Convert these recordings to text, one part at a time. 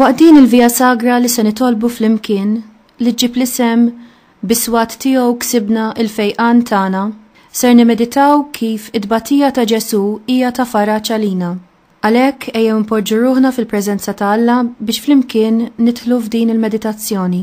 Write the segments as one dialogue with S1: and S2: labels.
S1: Waqt din il-Via Sagra li se nitolbu flimkien li ġġib l-isem biswat tiegħu ksibna l-fejqan tagħna, ser nimeditaw kif it-tbatija ta' Ġesù hija ta' faraġ għalina. Għalhekk ejjew inpoġġu ruħna fil-preżenza ta' Alla biex flimkien nidħlu f'din il-meditazzjoni.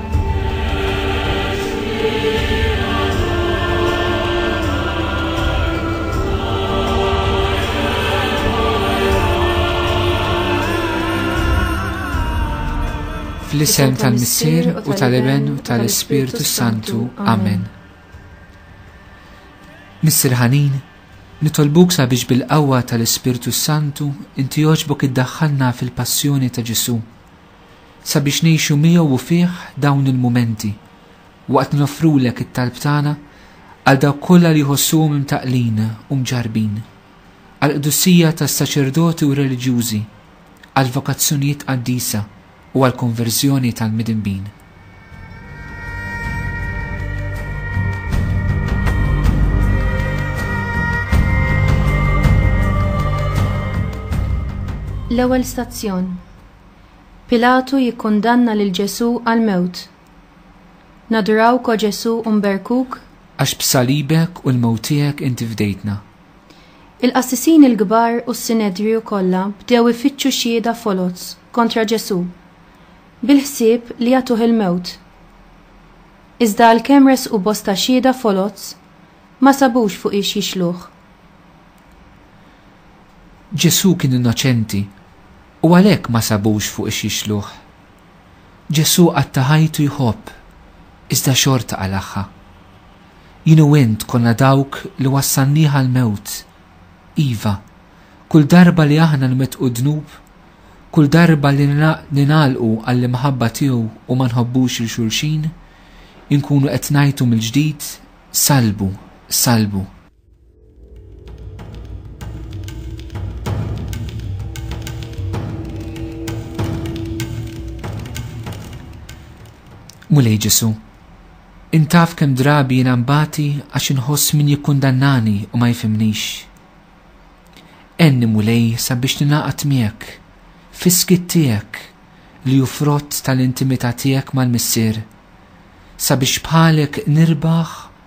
S2: Fl-isem tal-Missier u tal-Iben u tal-Ispirtu Santu. Amen. Missir ħanin, nitolbuk sabiex bil-qawwa tal-Ispirtu Santu inti joġbok iddaħħalna fil-passjoni ta' Ġesu' Sabiex ngħixu miegħu u fih dawn il-mumenti, waqt li noffrulek it-talb tagħna għal dawk kollha li jħossuhom imtaqqlin u mġarrbin, għall-qdusija tas-saċerdoti u reliġjużi, għall-vokazzjonijiet qaddisa u għall-konverżjoni tal-midinbin.
S1: L-ewwel stazzjon. Pilatu jikkundanna lil Ġesù għall-mewt. Nadurawk, O Ġesù, u nberkuk. Għax b'salibek
S2: u l-mewt tiegħek inti fdejtna.
S1: Il-qassisin il-kbar u s-sinedriju kollha bdew ifittxu xhieda foloz kontra Ġesù, bil-ħsieb li jagħtuh il-mewt. Iżda għalkemm ressqu bosta xhieda foloz, ma sabux fuqiex jixluh.
S2: Ġesù kien innoċenti u għalhekk ma sabux fuq ix jixluh. Ġesù qatta' ħajtu jħobb, iżda xorta qalagħha. Jien u int konna dawk li wassalnieh għall-mewt. Iva, kull darba li aħna nwettqu dnub, kull darba li ningħalqu għall-imħabba tiegħu u ma nħobbux lil xulxin, inkunu qed ngħajtu mill-ġdid, Sallbu, sallbu. Mulej Ġesu, intaf kem drabi jina mbati għax inħoss min jikkundannani u ma jifimnix. Enni mulej sabiex ninaqat miegħek, fiskit tiegħek li ju frott tal-intimità tiegħek mal-missier, sabiex bħalek nirbaħ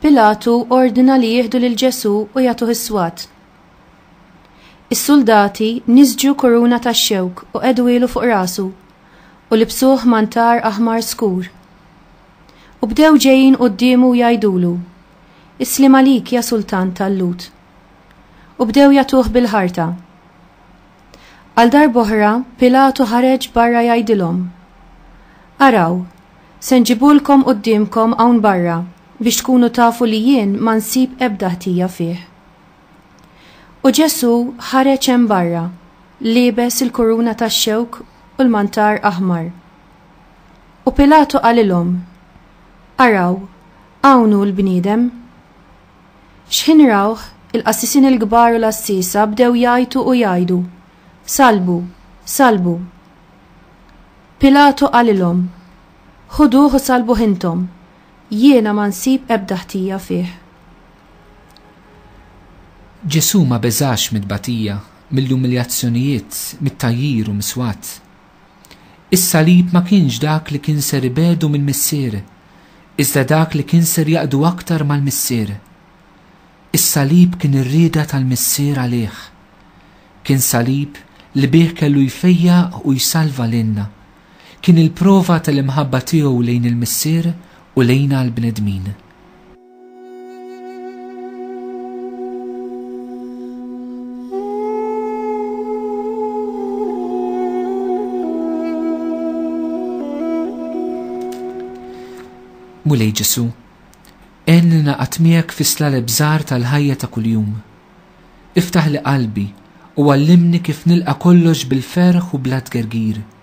S1: Pilatu ordna li jieħdu lil Ġesù u jagħtuh is-swat. Is-suldati niżġu kuruna tax-xewk u qegħduhielu fuq rasu, u libsuh mantar aħmar skur. U bdew ġejjin quddiemu u jgħidulu, Isliem għalik, ja Sultan tal-Lhud! U bdew jagħtuh bil-ħarta. Għal darb'oħra Pilatu ħareġ barra jgħidilhom, Araw, se nġibulkom quddiemkom hawn barra biex tkunu tafu li jien ma nsib ebda ħtija fih. U Ġesù ħareġ hemm barra, liebes il-kuruna tax-xewk u l-mantar aħmar. U Pilatu qalilhom, Araw, hawn hu l-bniedem! X'ħin rawh, il-qassisin il-kbar u l-għassiesa bdew jgħajtu u jgħidu, Salbu! Salbu! Pilatu qalilhom, Ħuduh u salbuh intom, jiena ma nsib ebda ħtija fih.
S2: Ġesù ma beżax mit-tbatija, mill-umiljazzjonijiet, mit-tgħajjir u mis-swat. Is-salib ma kienx dak li kien ser ibegħdu mill-Missier, iżda dak li kien ser jaqdu aktar mal-Missier. Is-salib kien ir-rieda tal-Missier għalih. Kien salib li bih kellu jfejjaq u jsalva lilna. Kien il-prova tal-imħabba tiegħu lejn il-Missier u lejna l-bnedmin. Mulej Ġesu, en li naqat miegħek fis-slaleb żgħar tal-ħajja ta' kuljum. Iftaħ li qalbi u għallimni kif nilqa' kollox bil-ferħ u bla tgergir.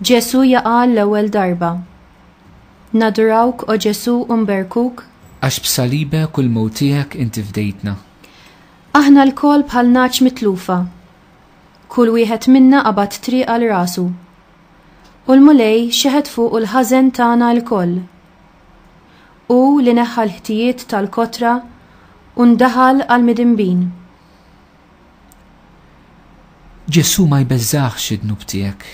S1: Ġesù jaqa' għall-ewwel darba. Nadurawk, O Ġesù, u nberkuk. Għax b'salibek
S2: u l-mewt tiegħek inti fdejtna. Aħna
S1: lkoll bħal nagħaġ mitlufa. Kull wieħed minna qabad triq għal rasu. U l-Mulej xeħet fuqu l-ħażen tagħna lkoll. Hu li neħħa l-ħtijiet tal-kotra u ndaħal għall-midinbin.
S2: Ġesù ma jbeżżagħx id-dnub tiegħek.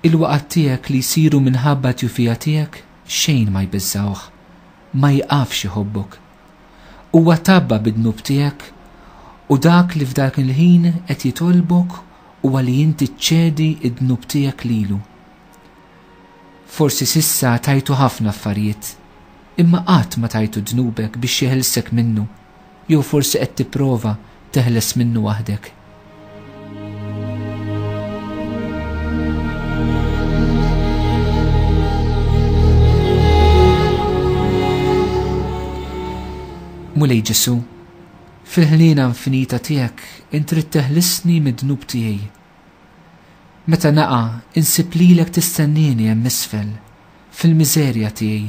S2: Il-waqgħat tiegħek li jsiru minħabba t-tjufija tiegħek xejn ma jbeżżgħuh. Ma jieqafx iħobbok. Huwa tgħabba bid-dnub tiegħek u dak li f'dak il-ħin qed jitolbok huwa li inti ċċedi d-dnub tiegħek lilu. Forsi s'issa tajtu ħafna affarijiet, imma qatt ma tajtu dnubek biex jeħilsek minnu. Jew forsi qed tipprova teħles minnu waħdek? Mulej Ġesu, fil-ħnina infinita tiegħek intrid teħlisni mid-dnub tiegħi. Meta naqa' insib lilek tistennini hemm isfel, fil-miżerja tiegħi,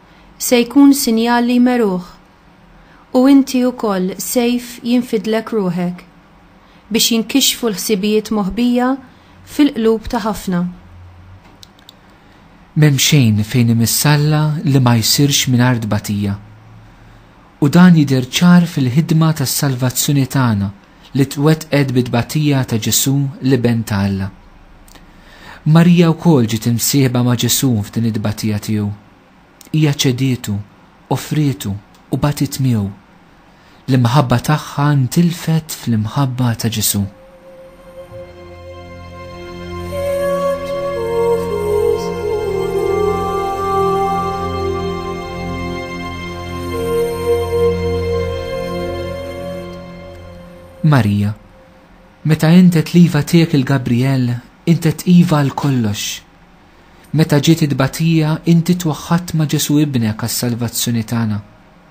S1: se jkun sinjal li jmeruh, u inti wkoll sejf jinfidlek ruħek, biex jinkixfu l-ħsibijiet moħbija fil-qlub ta' ħafna.
S2: M'hemm xejn fejn imissalla li ma jsirx mingħajr tbatija. U dan jidher ċar fil-ħidma tas-salvazzjoni tagħna li twettqet bit-tbatija ta' Ġesù, l-Iben ta' Alla. Marija wkoll ġiet imsieħba ma' Ġesù f'din it-tbatija tiegħu. Hija ċedietu, offrietu, u batiet miegħu. L-imħabba tagħha ntilfet fl-imħabba ta' Ġesù. Marija, meta intet liva tiegħek il-Gabriel, intet iva għal kollox. Meta ġiet it-tbatija, inti twaħħat ma' Ġesu ibnek għas-salvazzjoni tagħna.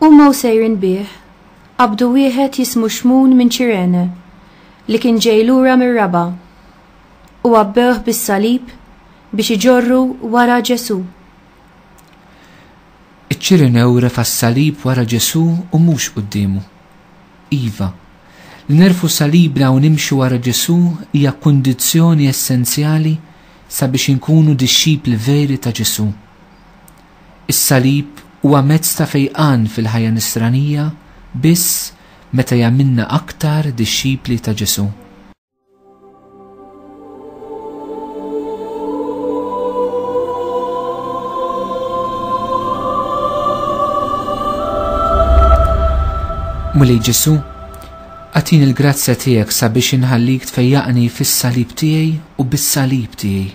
S1: Huma u sejrin bih, qabdu wieħed jismu Xmun minn Ċirene, li kien ġej lura mir-raba', u għabbewh bis-salib biex iġorru wara Ġesù.
S2: Iċ-Ċirenew refa' s-salib wara Ġesù u mhux quddiemu. Iva, li nerfgħu salibna u nimxu wara Ġesù hija kundizzjoni essenzjali sabiex inkunu dixxipli veri ta' Ġesù. Is-salib huwa mezz ta' fejqan fil-ħajja Nisranija biss meta jagħmilna aktar dixxipli ta' Ġesù. Mulej Ġesù, għatin il-grazzja tiegħek sabiex inħallik tfejjaqni fis-salib tiegħi u bis-salib tiegħi.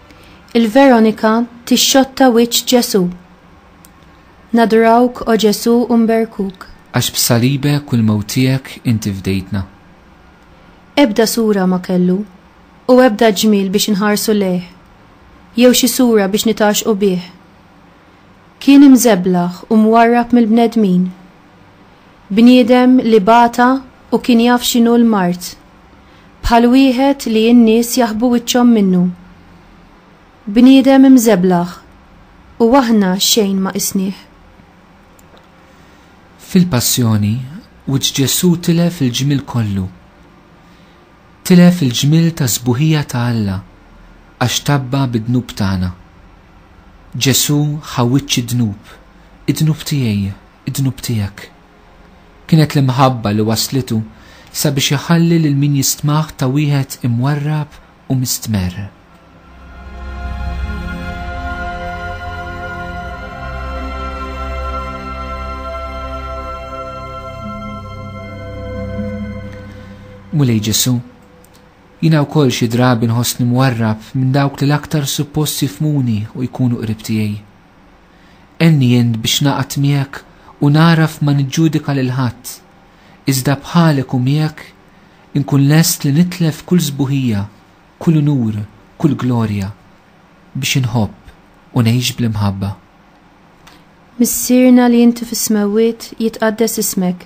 S1: Il-Veronika tixxotta wiċċ Ġesù. Nadrawk, O Ġesù, u nberkuk. Għax
S2: b'salibek u l-mewt tiegħek inti fdejtna.
S1: Ebda sura ma kellu, u ebda ġmiel biex inħarsu lejh, jew xi sura biex nitgħaxxqu bih. Kien imżeblaħ u mwarrab mill-bnedmin. Bniedem li bata u kien jaf x'inhu l-mard. bħal wieħed li n-nies jaħbu wiċċhom minnu. Bniedem imżeblaħ u aħna xejn ma qisnih.
S2: Fil-Passjoni, wiċċ Ġesù tilef il-ġmiel kollu. Tilef il-ġmiel ta' sbuħija ta' Alla għax tabba bid-dnub tagħna. Ġesù ħa wiċċ id-dnub, id-dnub tiegħi, id-dnub tiegħek. Kienet l-imħabba li wasslitu sabiex iħalli lil min jistmah ta' wieħed imwarrab u mistmerr. Mulej Ġesu, jina wkoll xi drabi nħossni mwarrab minn dawk li l-aktar suppost jifmuni u jkunu qrib tiegħi. Għenni int biex naqgħad miegħek u nagħraf ma niġġudika lil ħadd, iżda bħalek u miegħek inkun lest li nitlef kull sbuħija, kull unur, kull glorja, biex inħobb u ngħix bl-imħabba. Missierna
S1: li inti fis-smewwiet, jitqaddes ismek.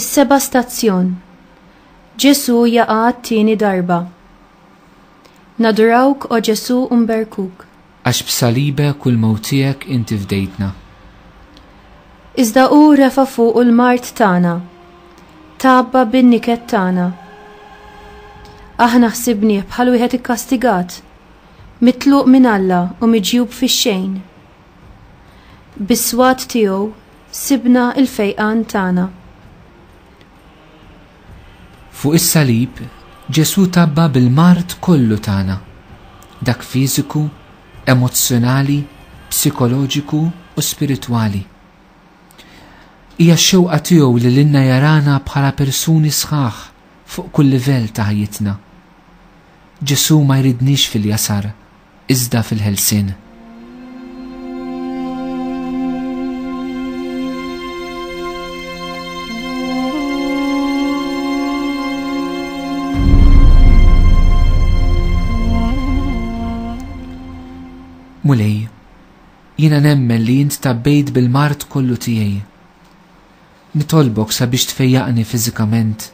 S1: Is-seba' stazzjon. Ġesu jaqa' t-tieni darba. Nadurawk o Ġesu mberkuk. Għax
S2: b'salibek u l-mewt tiegħek inti fdejtna.
S1: Iżda hu refa' fuqu l-mard tagħna, tgħabba bin-niket tagħna. Aħna ħsibnieh bħal wieħed ikkastigat, mitluq minn Alla u miġjub fix-xejn. Bis-swat tiegħu sibna l-fejqan tagħna.
S2: Fuq is-salib, Ġesù tgħabba bil-mard kollu tagħna, dak fiżiku, emozzjonali, psikoloġiku u spiritwali. Hija x-xewqa tiegħu li lilna jarana bħala persuni sħaħ fuq kull livell ta' ħajjitna. Ġesù ma jridniex fil-jasar, iżda fil-ħelsien. Mulej, jiena nemmen li jint tabbejt bil-mart kollu tiegħi. Nitolbok sabiex tfejjaqni fiżikament,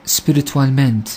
S2: spiritwalment,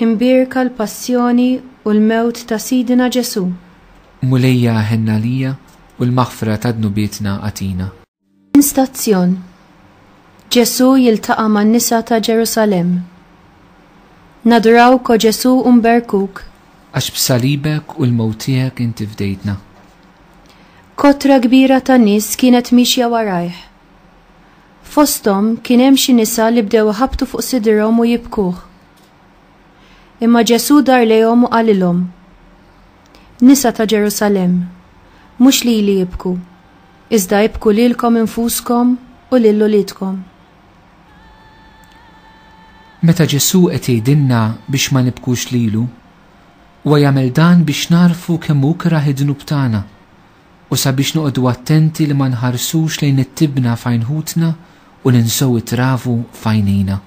S1: Imbierka l-passjoni u l-mewt ta' Sidina Ġesù. Mulejja
S2: ħenn għalija u l-maħfra ta' dnubietna agħtina. Minn stazzjon,
S1: Ġesù jiltaqa' man-nisa ta' Ġerusalemm. Nadurawk o Ġesù u nberkuk. Għax
S2: b'salibek u l-mewt tiegħek inti fdejtna.
S1: Kotra kbira ta' nies kienet miexja warajh. Fosthom kien hemm xi nisa li bdew iħabbtu fuq sidirhom u jibkuh. Imma Ġesù dar lejhom u qalilhom, Nisa ta' Ġerusalemm, mhux lili ibku, iżda ibku lilkom infuskom u lil uliedkom.
S2: Meta Ġesù qed jgħidilna biex ma nibkux lilu, huwa jagħmel dan biex nagħrfu kemm hu kerah id-dnub tagħna u sabiex noqogħdu attenti li ma nħarsux lejn it-tibna f'għajn ħutna u ninsew it-travu f'għajnejna.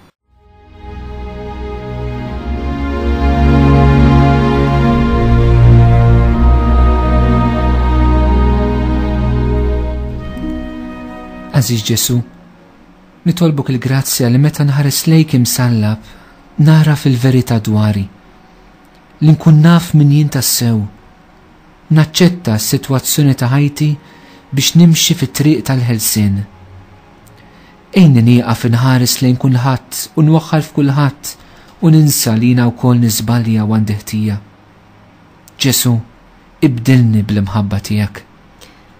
S2: Għażiż Ġesu, nitolbuk il-grazzja li meta nħares lejk imsallab, nara fil-verità dwari. Li nkun naf min jien tassew, Naċċetta s-sitwazzjoni ta' ħajti biex nimxi fit-triq tal-ħelsien. Għinni nieqaf inħares lejn kulħadd u nwaħħal f'kulħadd u ninsa li jiena wkoll niżbalja u għandi ħtija. Ġesù, ibdilni bl-imħabba tiegħek.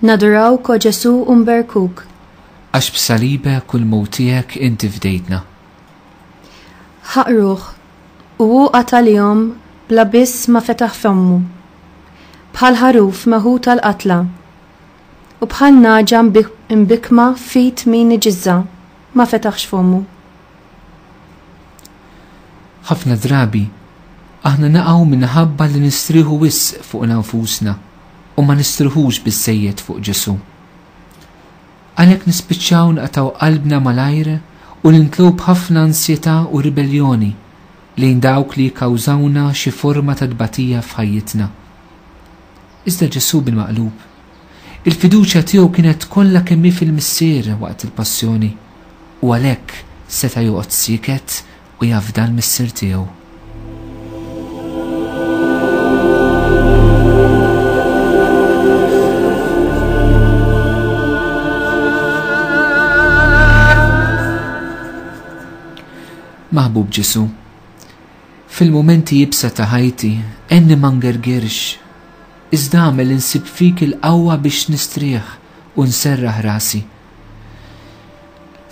S1: Nadurawk, O Ġesù, u nberkuk. Għax
S2: b'salibek u l-mewt tiegħek inti fdejtna. Ħaqruh,
S1: u hu qatalihom bla biss ma fetaħ fommu. Bħal ħaruf meħud għall-qatla, u bħal nagħġa mbikkma f'id min iġiżżha, ma fetaħx fommu.
S2: Ħafna drabi, aħna naqgħu minħabba li nistrieħu wisq fuqna nfusna. u ma nistrieħux biżżejjed fuq Ġesù. Għalhekk nispiċċaw naqtgħu qalbna malajr u nimtlew b'ħafna ansjetà u ribelljoni lejn dawk li jikkawżawna xi forma ta' tbatija f'ħajjitna. Iżda Ġesù bil-maqlub, il-fiduċja tiegħu kienet kollha kemm hi fil-Missier waqt il-Passjoni u għalhekk seta' joqgħod sieket u jafda l-Missier tiegħu. Maħbub Ġesu, fil-momenti jibsa ta' ħajti, enni mangergirx, iżda għamel insib fik il-qawwa biex nistrieħ u nserraħ rasi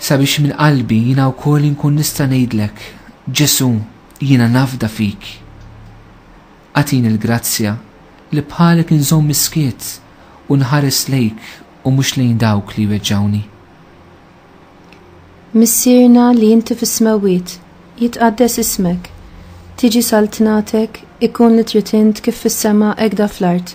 S2: Sabiex minn qalbi jiena wkoll inkun nista' ngħidlek, Ġesù, jiena nafda fik. Agħtini l-grazzja li bħalek inżomm is-skiet u nħares lejk u mhux lejn dawk li jweġġgħuni.
S1: Missierna li inti fis-smewwiet, jitqaddes ismek. Tiġi saltnatek, ikun li trid int kif fis-sema hekk da fl-art.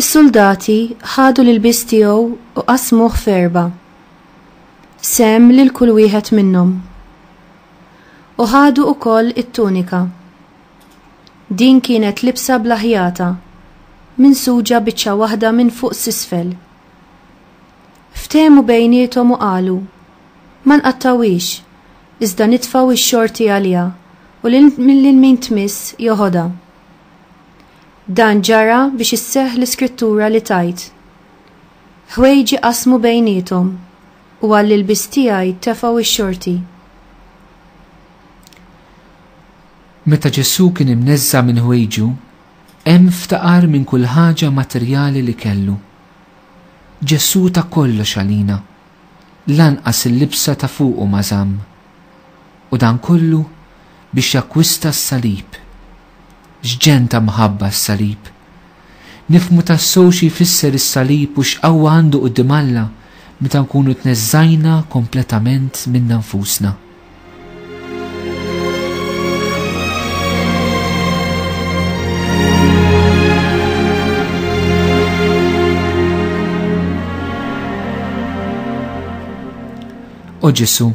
S2: Is-suldati
S1: ħadu l-ilbies tiegħu u qasmuh f'erba', sehem lil kull wieħed minnhom. U ħadu wkoll it-tunika. Din kienet libsa bla ħjata, minsuġa biċċa waħda minn fuq s'isfel. Ftehmu bejniethom u qalu, Ma nqattgħuhiex, iżda nitfgħu x-xorti għaliha u lil min tmiss jeħodha. Dan ġara biex isseħħ l-Iskrittura li tgħid, Ħwejġi qasmu bejniethom, u għall-ilbies tiegħi tefgħu x-xorti.
S2: Meta Ġesù kien imneżża' minn ħwejġu, hemm ftaqar minn kull ħaġa materjali li kellu. Ġesù ta kollox għalina. lanqas il-libsa ta' fuqu ma żamm, u dan kollu biex jakkwista s-salib. X'ġenn ta' mħabba s-salib! Nifhmu tassew xi jfisser is-salib u x'qawwa għandu quddiem Alla meta nkunu tneżżajna kompletament minna nfusna. O Ġesu,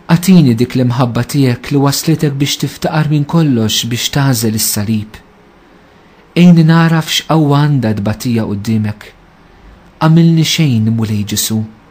S2: għatini dik l-imħabba tiegħek li waslitek biex tiftaqar minn kollox biex tażel is-salib. Ejni naraf x'qawwa għandha tbatija qudiemek. Għamilni xejn mulej Ġesu,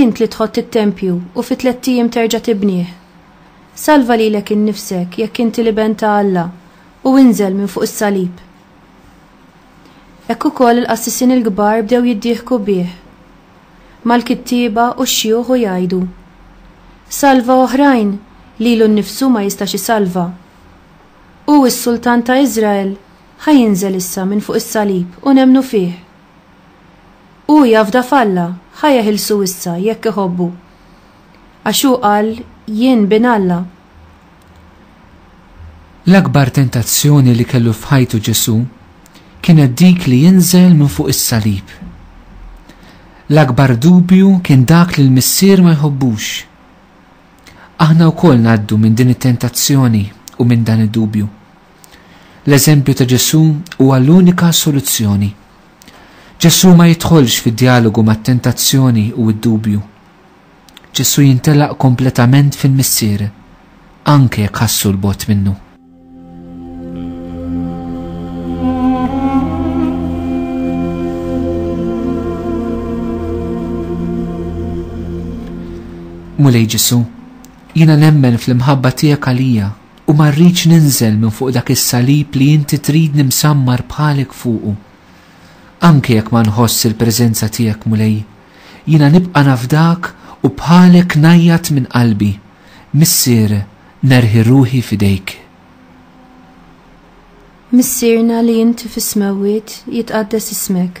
S1: Int li tħott it-tempju u fi tlett ijiem terġa' tibnih. Salva lilek innifsek jekk inti l-Iben ta' Alla u inżel minn fuq is-salib. Hekk ukoll il-qassisin il-kbar bdew jiddieħku bih mal-kittieba u x-xjuħ u jgħidu, Salva oħrajn lilu nnifsu ma jistax isalva. Hu s-Sultan ta' Iżrael ħa jinżel issa minn fuq is-salib u nemmnu fih. Hu jafda f'Alla, ħa jeħilsu issa, jekk iħobbu. Għax hu qal, Jien Bin Alla.
S2: L-akbar tentazzjoni li kellu f'ħajtu Ġesù kienet dik li jinżel minn fuq is-salib. L-akbar dubju kien dak li l-Missier ma jħobbux. Aħna wkoll ngħaddu minn din it-tentazzjoni u minn dan id-dubju. L-eżempju ta' Ġesù huwa l-unika soluzzjoni. Ġesù ma jidħolx fi djalogu mat-tentazzjoni u d-dubju. Ġesù jintelaq kompletament fil-Missier, anke jekk ħassu 'l bogħod minnu. Mulej Ġesù, jiena nemmen fl-imħabba tiegħek għalija U ma rridx ninżel minn fuq dak is-salib li inti tridni msammar bħalek fuqu. Anke jekk ma nħoss il-preżenza tiegħek, Mulej, jiena nibqa' nafdak u bħalek ngħajjat minn qalbi, Missier, nerħi ruħi f'idejk.
S1: Missierna li inti fis-smewwiet, jitqaddes ismek.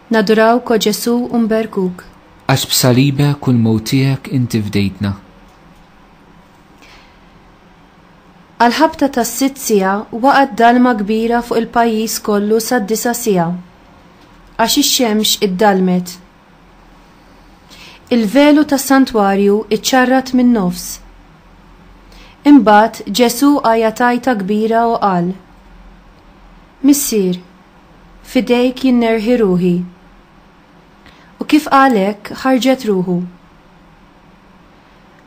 S2: Naduraw ko Ġesu u nberkuk. Għax b'salibek u l-mewt tiegħek inti fdejtna.
S1: Għall-ħabta tas-sitt siegħa waqgħet dalma kbira fuq il-pajjiż kollu sad-disa' siegħa, għax ix-xemx iddallmet. Il-velu tas-santwarju ċċarrat min-nofs. Imbagħad Ġesu għajat għajta kbira u qal, Missier, F'idejk jien nerħi ruħi. U kif qal hekk, ħarġet ruħu.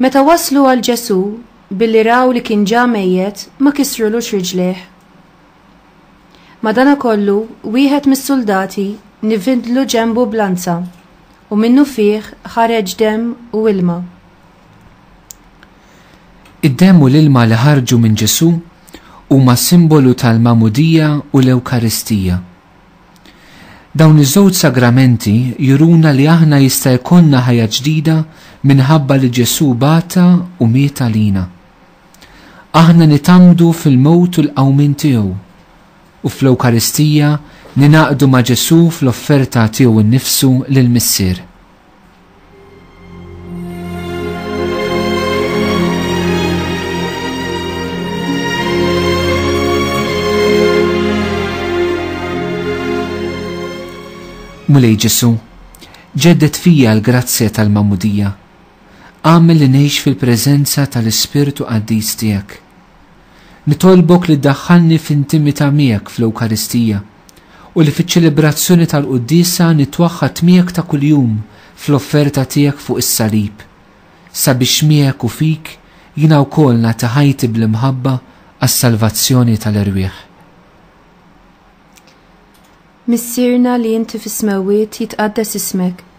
S1: Meta waslu għal Ġesù, billi raw li kien ġa mejjet, ma kisrulux riġlejh. Madanakollu, wieħed mis-suldati nivindlu ġenbu b'lanza, u minnufih ħareġ demm u ilma.
S2: Id-demm u l-ilma li ħarġu minn Ġesù huma simbolu tal-Magħmudija u l-Ewkaristija. Dawn iż-żewġ sagramenti juruna li aħna jista' jkollna ħajja ġdida minħabba li Ġesù bata u miet għalina. Aħna nitgħammdu fil-mewt u l-qawmien tiegħu, u fl-Ewkaristija ningħaqdu ma' Ġesù fl-offerta tiegħu nnifsu lill-Missier. Mulej Ġesu, ġeddet fija l-grazzja tal-mamudija, għamil li neħx fil-prezenza tal-Ispirtu għaddis tijak. Nitolbok li daħħalni f'intimita miegħek fl-Ewkaristija, u li fiċ-ċelebrazzjoni tal-Quddiesa nitwaħħad miegħek ta' kuljum fl-offerta tiegħek fuq is-salib, sabiex miegħek u fik jiena wkoll nagħti ħajti bl-imħabba għas-salvazzjoni tal-erwieħ.
S1: Missierna li inti fis-smewwiet jitqaddes ismek,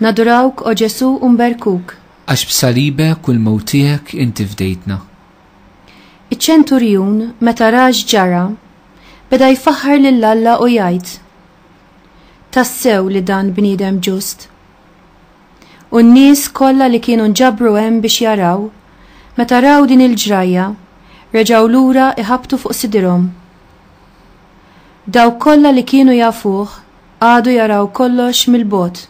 S1: Nadurawk, O Ġesù, u nberkuk. Għax b'salibek
S2: u l-mewt tiegħek inti fdejtna. Iċ-ċenturjun,
S1: meta ra x'ġara, beda jfaħħar lil Alla u jgħid, Tassew li dan bniedem ġust. U n-nies kollha li kienu nġabru hemm biex jaraw, meta raw din il-ġrajja, reġgħu lura iħabbtu fuq sidirhom. Dawk kollha li kienu jafuh Qagħdu jaraw kollox mill-bogħod.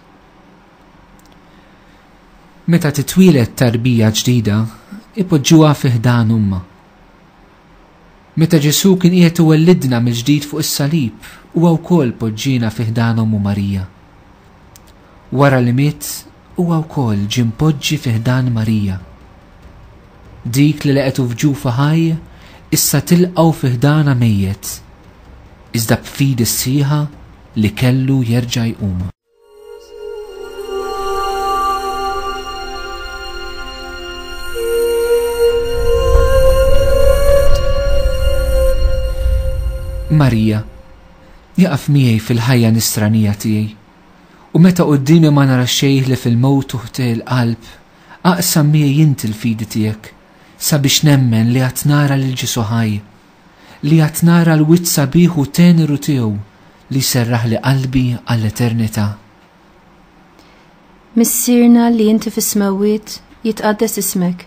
S2: Meta titwieled tarbija ġdida, ipoġġuha fi ħdan ommha. Meta Ġesù kien qiegħed iwellidna mill-ġdid fuq is-salib, huwa wkoll poġġiena fi ħdan ommu Marija. Wara li miet, huwa wkoll ġie mpoġġi fi ħdan Marija. Dik li leqgħetu f'ġufa ħaj issa tilqgħu fi ħdanha mejjet, iżda b'fidi sħiħa li kellu jerġa' jqum. Marija, jaqaf miegħi fil-ħajja nisranija tiegħi. U meta quddiemi ma nara xejn ħlief il-mewt u ħtieq il-qalb, aqsam miegħi inti l-fidi tiegħek, sabiex nemmen li għad nara lil Ġesù ħaj, li għad nara l-wiċċ sabiħ u teneru tiegħu li jserraħli qalbi għall-eternità.
S1: Missierna li inti fis-smewwiet, jitqaddes ismek.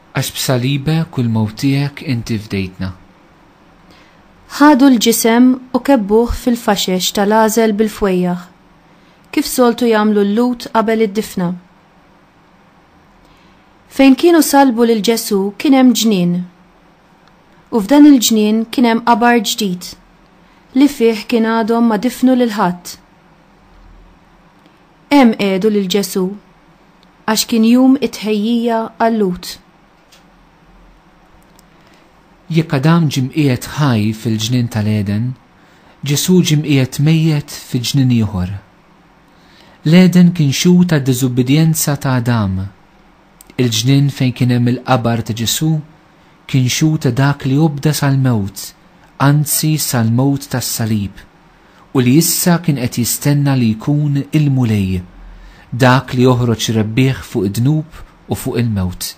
S1: Għax b'salibek
S2: u l-mewt tiegħek inti fdejtna.
S1: Ħadu l-ġisem u kebbuh fil-faxex tal-għażel bil-fwejjaħ, kif soltu jagħmlu l-Lhud qabel id-difna. Fejn kienu sallbu lil Ġesù kien hemm ġnien. U f'dan il-ġnien kien hemm qabar ġdid, li fih kien għadhom ma difnu lil ħadd. Hemm qiegħdu lil Ġesù għax kien jum it-tħejjija għal-Lhud.
S2: Jekk Adam ġie mqiegħed ħaj fil-ġnien tal-Għeden, Ġesù ġie mqiegħed mejjet fi ġnien ieħor. L-Għeden kien xhud tad-diżubbidjenza ta' Adam. Il-ġnien fejn kien hemm il-qabar ta' Ġesù kien xhud ta' dak li obda sal-mewt, anzi sal-mewt tas-salib. u li issa kien qed jistenna li jkun il-Mulej dak li joħroġ rebbieħ fuq id-dnub u fuq il-mewt.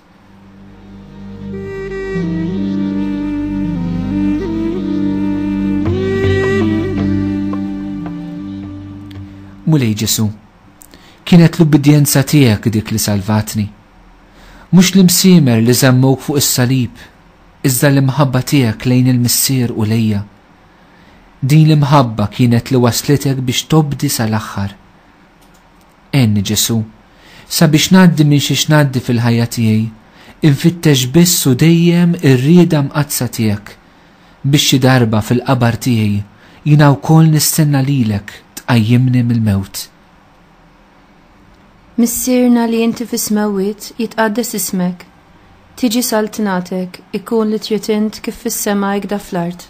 S2: Mulej Ġesu, kienet l-ubbidjenza tiegħek dik li salvatni. Mhux l-imsiemer li żammuk fuq is-salib, iżda l-imħabba tiegħek lejn il-Missier u lejja. Din l-imħabba kienet li wasslitek biex tobdi sal-aħħar. Għenni, Ġesù, sabiex ngħaddi minn xiex ngħaddi fil-ħajja tiegħi, infittex biss u dejjem ir-rieda mqaddsa tiegħek, biex xi darba fil-qabar tiegħi jiena wkoll nistenna lilek tqajjimni mill-mewt.
S1: Missierna li inti fis-smewwiet jitqaddes ismek, tiġi saltnatek, ikun li trid int kif fis-sema ikda fl-art.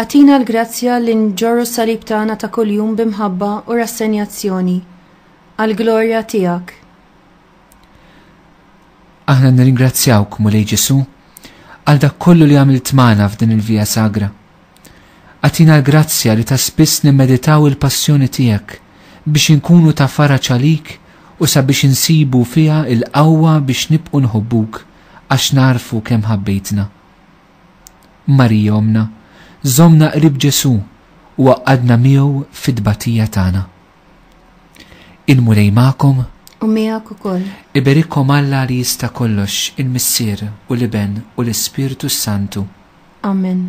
S1: Agħtina l-grazzja li nġorru s-salib tagħna ta' kuljum bi mħabba u rassenjazzjoni, għall-glorja tiegħek.
S2: Aħna nirringrazzjawk, Mulej Ġesu, għal dak kollu li għamilt magħna f'din il-vija sagra. Għatina l-grazzja li ta' spiss nimmeditaw il-passjoni tiegħek biex inkunu ta' fara ċalik u sabiex insibu fiha il-qawwa biex nibqu nħobbuk għax narfu kemm ħabbejtna. Marija Ommna, żommna qrib Ġesù u għaqqadna miegħu fit-tbatija tagħna. Il-Mulej magħkom. U miegħek ukoll.
S1: Iberikkom Alla
S2: li jista' kollox, il-Missier u l-Iben u l-Ispirtu s-Santu. Amen.